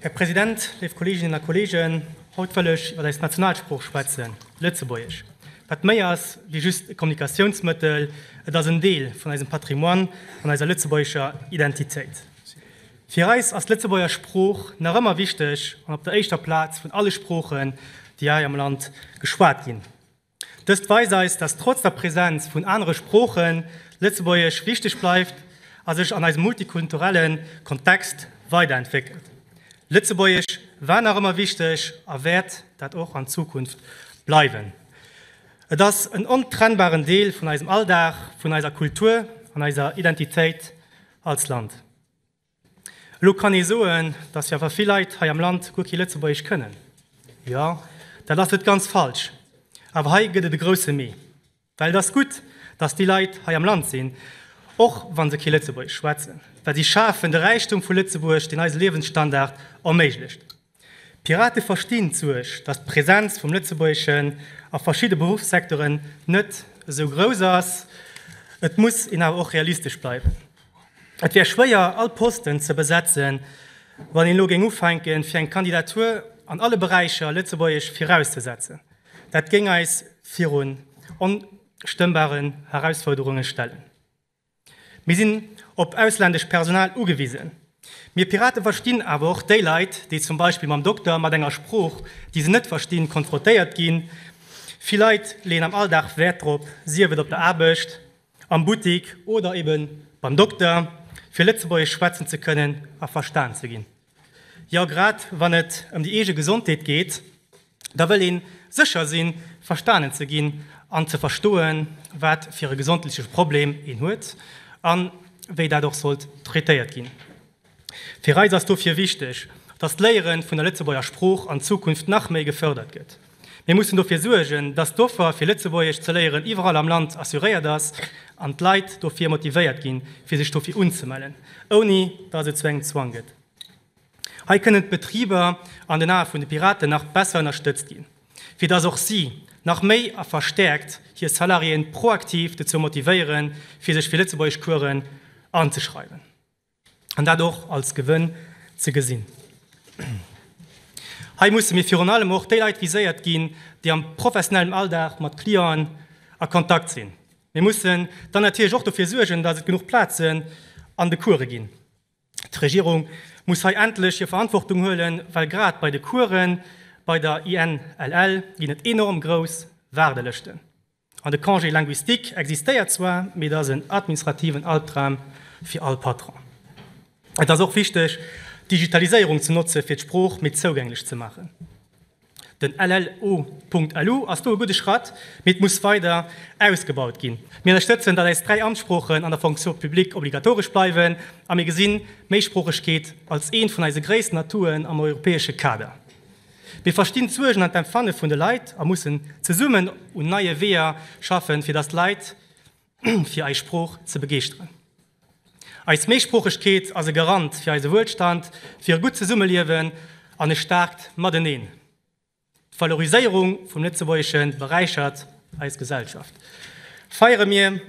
Här President, léif Kolleeginnen a Kolleegen, haut wëll ech iwwer eis Nationalsprooch schwätzen, Lëtzebuergesch, wat méi ass wéi just e Kommunikatiounsmëttel, et ass en Deel vun eisem Patrimoine an eiser lëtzebuergescher Identitéit. Fir eis ass d'Lëtzebuerger Sprooch nach ëmmer wichteg an op der éischter Plaz vun alle Sproochen, déi hei am Land geschwat ginn. Dëst weist eis, dass trotz der Präsenz vun anere Sproochen, d'Lëtzebuergesch wichteg bleift a sech an eisem multikulturelle Kontext weiderentwéckelt. Lëtzebuergesch war nach ëmmer wichteg a wäert dat och an Zukunft bleiwen. Et ass en ontrennbaren Deel vun eisem Alldag, vun eiser Kultur an eiser Identitéit als Land. Elo kann ee soen, dass jo awer vill Leit hei am Land guer kee Lëtzebuergesch kënnen. Jo, dat ass net ganz falsch. Awer hei gëtt et e grousse Mee. Well et ass gutt, dass déi Leit hei am Land sinn, och wa se kee Lëtzebuergesch schwätzen, well si schafen de Räichtum vu Lëtzebuerg, deen eise Liewensstandard erméiglecht. D'Pirate verstinn d'Suerg, datt d'Presenz vum Lëtzebuergeschen a verschidde Beruffssektoren net esou grouss ass. Et muss een awer och realistesch bleiwen. Et wär schwéier, all Posten ze besetzen, wann een elo géing ufänken, fir eng Kandidatur an alle Beräicher Lëtzebuergesch virauszesetzen. Dat géing eis virun onstëmmbare Herausforderunge stellen. Mir sinn op ausländescht Personal ugewisen. Mir Piraten verstinn awer och déi Leit, déi zum Beispill mam Dokter mat enger Sprooch, déi se net verstinn, konfrontéiert ginn. Vill Leit leeën am Alldag Wäert drop, sief et op der Aarbecht, am Buttik oder eben beim Dokter, fir Lëtzebuergesch schwätzen ze kënnen a verstan ze ginn. Jo, grad wann et ëm déi eege Gesondheet geet, da wëll ee sécher sinn, verstanen ze ginn an ze verstoen, wat fir e gesondleche Problem een huet a wéi dat och sollt traitéiert ginn. Fir eis ass dofir wichteg, datt d'Léiere vun der Lëtzebuerger Sprooch an Zukunft nach méi gefërdert gëtt. Mir mussen dofir suergen, dass d'Offer fir Lëtzebuergesch ze léieren iwwerall am Land assuréiert ass an d'Leit dofir motivéiert ginn, fir sech dofir unzemellen, ouni dass et zu engem Zwang gëtt. Hei kënnen d'Betriber an den Ae vun de Piraten nach besser ënnerstëtzt ginn, fir dass och si nach méi a verstäerkt hir Salariéen proaktiv dozou motivéieren, fir sech fir Lëtzebuergeschcoursen anzeschreiwen. an dat och als Gewënn ze gesinn. Hei musse mir virun allem och déi Leit viséiert ginn, déi am professionellem Alldag mat Clienten a Kontakt sinn. Mir mussen dann natierlech och dofir suergen, datt et genuch Plazen an de Course ginn. D'Regierung muss hei endlech hir Verantwortung huelen, well grad bei de Coursen bei der INLL ginn et enorm grouss Waardelëschten. An de Congé linguistique existéiert zwar, mee et ass en administrativen Albdram fir all Patron. Et ass och wichteg, d'Digitaliséierung ze notzen, fir d'Sprooch méi zougänglech ze maachen. Den LLU.lu ass do e gudde Schratt, mee et muss weider ausgebaut ginn. Mir ënnerstëtzen, datt eis dräi Amtssproochen an der Fonction publique obligatoresch bleiwen, a mir gesinn d'Méisproochegkeet als eent vun eise gréissten Atouen am europäesche Kader. Mir verstinn d'Suergen an d'Empfanne vun de Leit a mussen zesummen un neie Weeër schaffen, fir dass d'Leit fir eis Sprooch ze begeeschteren. Eis Méisproochegkeet ass e Garant fir eise Wuelstand, fir e gutt Zesummeliewen an e staarkt Mateneen. D'Valoriséierung vum Lëtzebuergesche beräichert eis Gesellschaft. Feiere mir!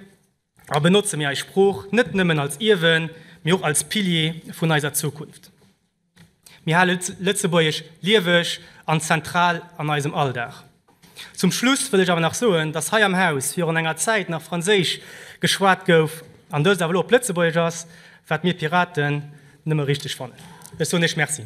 a benotze mir eis Sprooch net nëmmen als Ierwen, mee och als Pilier vun eiser Zukunft. Mir hale Lëtzebuergesch lieweg an zentral an eisem Alldag. Zum Schluss wëll ech awer nach soen, dass hei am Haus virun enger Zäit nach Franséisch geschwat gouf an dëst awer elo op Lëtzebuergesch ass, wat mir Piraten nëmme richteg fannen. Ech soen Iech Merci.